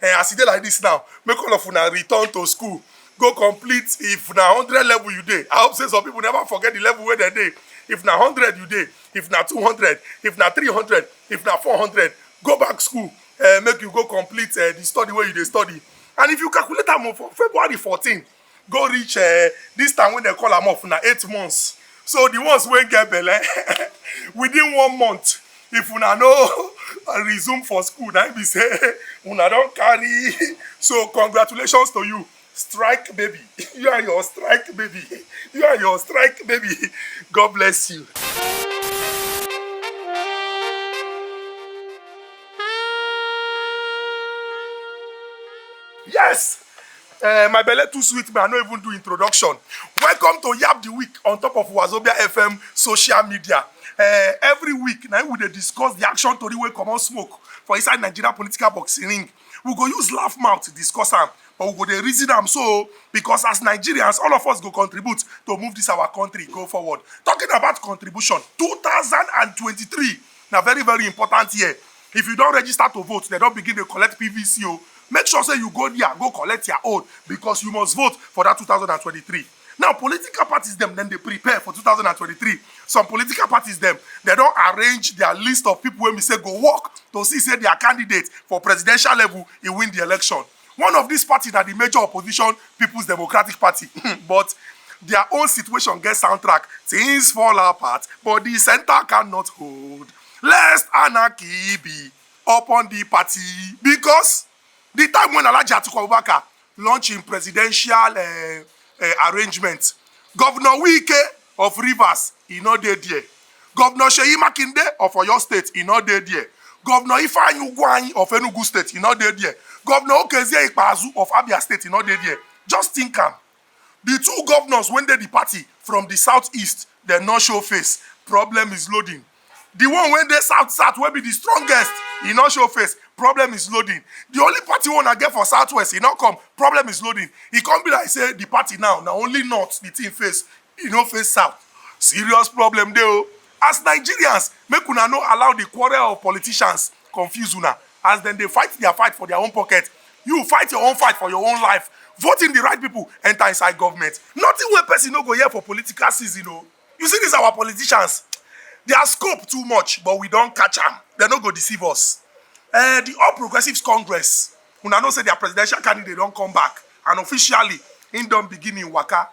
Eh, as e dey like this now, make all of una return to school go complete if na hundred level you dey i hope say some people never forget the level wey dem dey if na hundred you dey if na two hundred if na three hundred if na four hundred go back school uh, make you go complete uh, the study wey you dey study and if you calculate am for february fourteen go reach uh, this time when they call am off na eight months so the ones wey get belle within one month if una no resume for school na be say una don carry so congratulations to you strike baby you are your strike baby you are your strike baby god bless you. yes Uh, my belly too sweet me, I no even do introduction. Welcome to Yab the Week on top of Wazobia FM social media. Uh, every week, now we dey discuss the action tori wey comot smoke for inside Nigeria political boxing ring. We go use laugh mouth discuss am, but we go dey reason am so because as Nigerians, all of us go contribute to move this our country go forward. Talking about contribution, 2023 na very very important year If you don register to vote, dem don begin dey collect PVC o, make sure say you go dia go collect ya own because you must vote for dat two thousand and twenty-three. Now political parties dem dem dey prepare for two thousand and twenty-three, some political parties dem dem don arrange dia list of pipu wey be say go work to see say dia candidate for presidential level e win di election. One of dis party na di major opposition Peoples Democratic Party but dia own situation get soundtrack, tins fall apart but di centre cannot hold lest anarchy be upon di party becos di time wen Alhaji Atiku Abubakar launch im presidential arrangement, Govnor Wike of Rivers, e no dey there. Governor Seyi Makinde of Oyo State, e no dey there. Governor Ifeanyi Ugwuanyi of Enugu State, e no dey there. Governor Okezie Ikpeazu of Abia State, e no dey there. Just think am. The two governors wey dey the party from the south-east, dem no show face. Problem is loading. The one wey dey south south wey be the strongest, e no show face, problem is loading. The only party wey una get for south west, e no come, problem is loading. E come be like say the party now na only north the thing face, e no face south. Serious problem dey o. As Nigerians, make una no allow the quarrel of politicians confuse una. As dem dey fight their fight for their own pocket, you fight your own fight for your own life. Vote in the right people, enter inside government. Nothing wey person no go hear for political season o. you see these our politicians their scope too much but we don catch am they no go deceive us uh, the all progressives congress una know say their presidential candidate don come back and officially im don begin im waka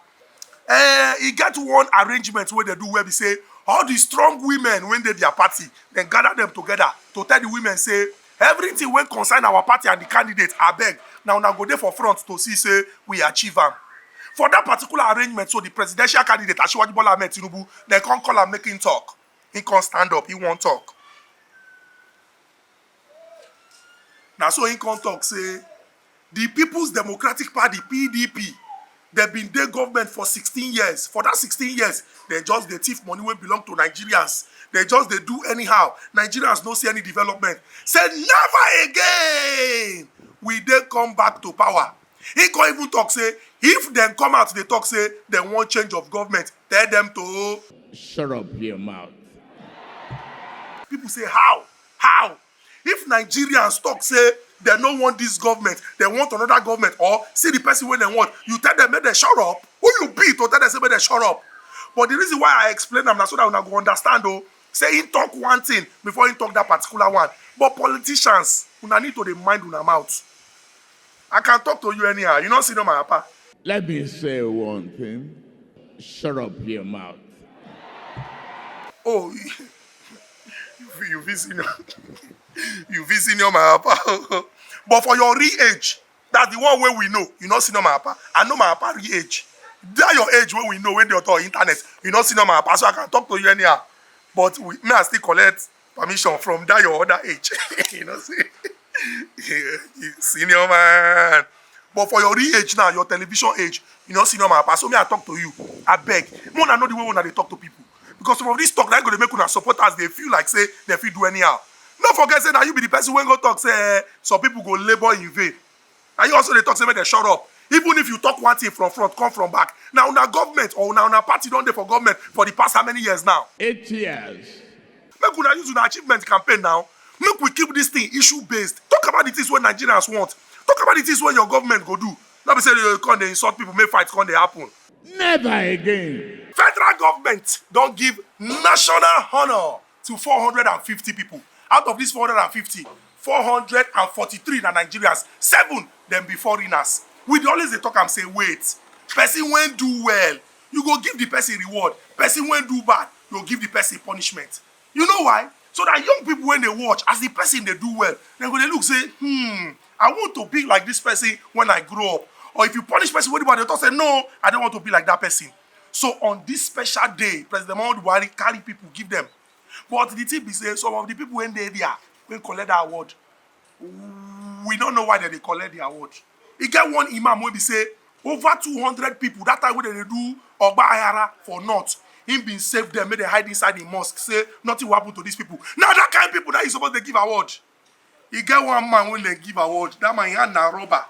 uh, e get one arrangement wey dey do wey be say all the strong women wey dey their party dem gather them together to tell the women say Everything wey concern our party and the candidate, abeg, na una go dey for front to see say we achieve am. For that particular arrangement so, the presidential candidate, Asiwaju Bola Ahmed Tinubu, dem come call am make him talk, he come stand up, he wan talk. Na so he come talk say. Di Peoples Democratic Party, PDP, dem bin dey government for sixteen years, for dat sixteen years, dem just dey thief money wey belong to Nigerians, dem just dey do anyhow, Nigerians no see any development, say never again will dey come back to power. Im come even tok say if dem come out dey tok say dem wan change of government, tell dem to. Shut up your mouth. People say how? How? If Nigerians talk say dem no want dis government, dem want another government or see the person wey dem want, you tell dem make dem shut up? Who you be to tell dem say make dem shut up? But the reason why I explain am na so that una go understand o say him talk one thing before him talk that particular one. But politicians, una need to dey mind una mouth. I can talk to you anyhow, you no see no my apa. Let me say one thing, shut up your mouth. Oh, you you fit senior you fit senior my papa but for your real age that the one wey we know you no senior my papa i know my papa real age that your age wey we know wey dey on top internet you no senior my papa so i can talk to you anyhow but we may i still collect permission from that your other age you know see senior man but for your real age now your television age you no senior my papa so me i talk to you I beg. una know the way una dey talk to people Because some of this talk na go dey make una supporters dey feel like say dem fit do anyhow. No forget say na you be the person wey go talk say eh, some people go labour in vain. Na you also dey talk say make dem shut up. Even if you talk one thing from front come from back, na una government or na una party don dey for government for the past how many years now? Eight years. Make una use una achievement campaign na. Make we keep this thing issue based. Talk about the things wey Nigerians want. Talk about the things wey your government go do. No be say you go come dey insult people make fight come dey happen. Never again. Federal government don give national honour to 450 people. Out of these 450, 443 na Nigerians, seven dem be foreigners. We dey always dey talk am say wait, person wey do well, you go give the person reward, person wey do bad, you go give the person punishment. You know why? So that young people when they watch, as the person they do well, they go they look say, hmm, I want to be like this person when I grow up. Or if you punish person, what about the thought say, no, I don't want to be like that person. So on this special day, President Muhammadu Buhari carry people, give them. But the thing be say, some of the people when they there, when collect that award, we no know why dem dey collect the award e get one imam wey be say over 200 people that time wey dem dey do ogba ayara for north him bin save them make dem hide inside the mosque say nothing will happen to these people na that kind people na you suppose dey give award e get one man wey dey give award that man yan na rubber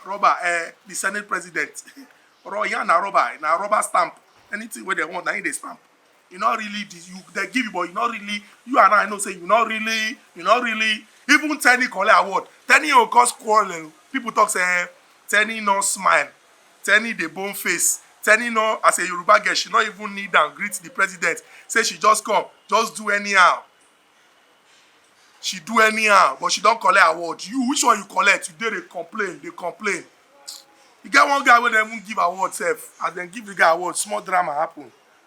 rubber eh the senate president yan na rubber na rubber stamp anything wey dem want na him dey stamp you no really dis you dey give you but you no really you and i know say you no really you no really even tenny collect award tenny o cause quarrel people talk say eh tenny no smile tenny dey bone face tenny no as a yoruba girl she no even kneel down greet the president say she just come just do anyhow she do anyhow but she don collect award you which one you collect you dey dey complain dey complain e get one guy wey dem even give award sef as dem give the guy award small drama happen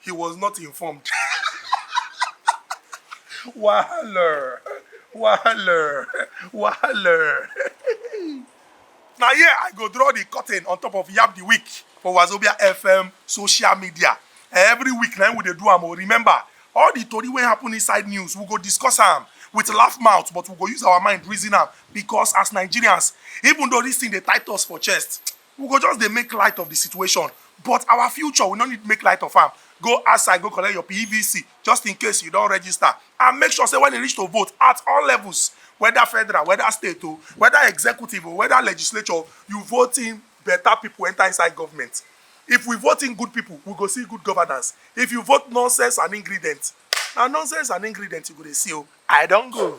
he was not informed. Wahaler. Wahaler. Wahaler. Now here I go draw the curtain on top of Yap the Week for Wazobia FM social media. Every week now we dey do am. Oh, remember, all the tori wey happen inside news, we go discuss am with laugh mouth, but we go use our mind reason am because as Nigerians, even though this thing dey tight us for chest, We go just dey make light of the situation but our future we no need make light of am. Go outside go collect your PVC just in case you don register and make sure say when e reach to vote at all levels whether federal, whether state o, whether executive o, whether legislature o, you vote in better people enter inside government. If we vote in good people, we go see good governance. If you vote nonsense and ingredient, na nonsense and ingredient you go dey see o. I don go.